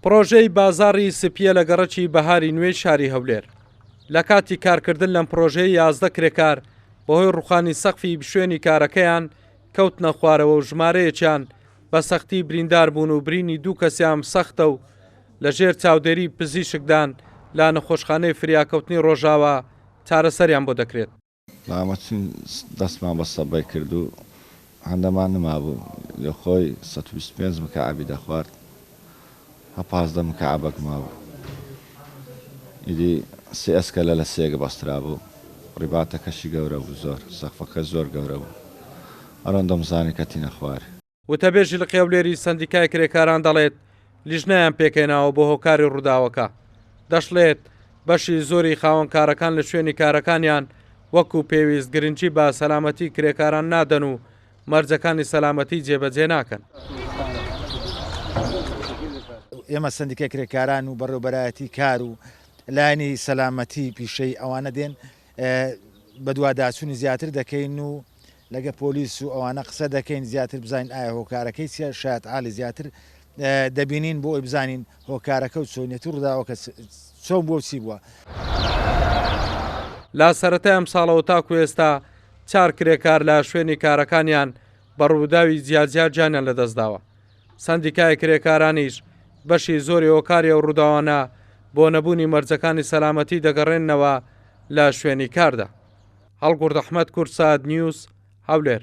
پڕۆژەی بازاڕی سپییە لە گەڕەکی بەهاری نوێی شاری هەولێر لە کاتی کارکردن لەم پرۆژەیە یازدە کرێکار بەهۆی ڕوخانی سەقفی شوێنی کارەکەیان کەوتنە خوارەوە و ژمارەیەکیان بە سەختی بریندار بوون و برینی دوو کەسیان سەختە و لە ژێر چاودێری پزیشکدان لە نەخۆشخانەی فریاکەوتنی ڕۆژاوا چارەسەریان بۆ دەکرێت. مامە چین دەستمان بە سەبەی کرد و هەندەمان نمابوو لە خۆی سەد و بیست و پێنج مکەعەبی دەخوارد هە پازدە مکەعەبەک مابوو ئیدی سێ ئەسکەلە لە سێگ بەسترابوو ڕیباتەکەشی گەورە بوو زۆر سەقفەکەش زۆر گەورە بوو ئەرۆن دەمزانی کەتینە خوار وتەبێژی لقێولێری سەندیکای کرێکاران دەڵێت لیژنەیان پێکهێناوە بۆ هۆکاری ڕووداوەکە دەشڵێت بەشی زۆری خاوەنکارەکان لە شوێنی کارەکانیان وەکو پێویست گرنگی بە سەلامەتی کرێکاران نادەن و مەرجەکانی سەلامەتی جێبەجێ ناکەن. ئێمە سندیکە کرێکاران و بەڕێوبەرایەتی کار و لایەنی سەلامەتی پیشەی ئەوانە دێن بەدواداچونی زیاتر دەکەین و لەگە پۆلیس و ئەوانە قسە دەکەین زیاتر بزانین ئایا هۆکارەکەی چیە شایەت عالی زیاتر دەبینین بۆ ئەوی بزانین هۆکارەکە و چۆنیەتی ڕوداوەکە چۆن بوە و چی بوە. لە سەرەتای ئەمساڵەوە تاکو ئێستا چار کرێکار لە شوێنی کارەکانیان بە ڕووداوی جیاجیا گیانیان لەدەستداوە. سەندیکای کرێکارانیش بەشی زۆری هۆکاری ئەو ڕووداوانە بۆ نەبوونی مەرجەکانی سەلامەتی دەگەڕێننەوە لە شوێنی کاردا. هەڵگورد ئەحمەد کوردسات نیوز، هەولێر.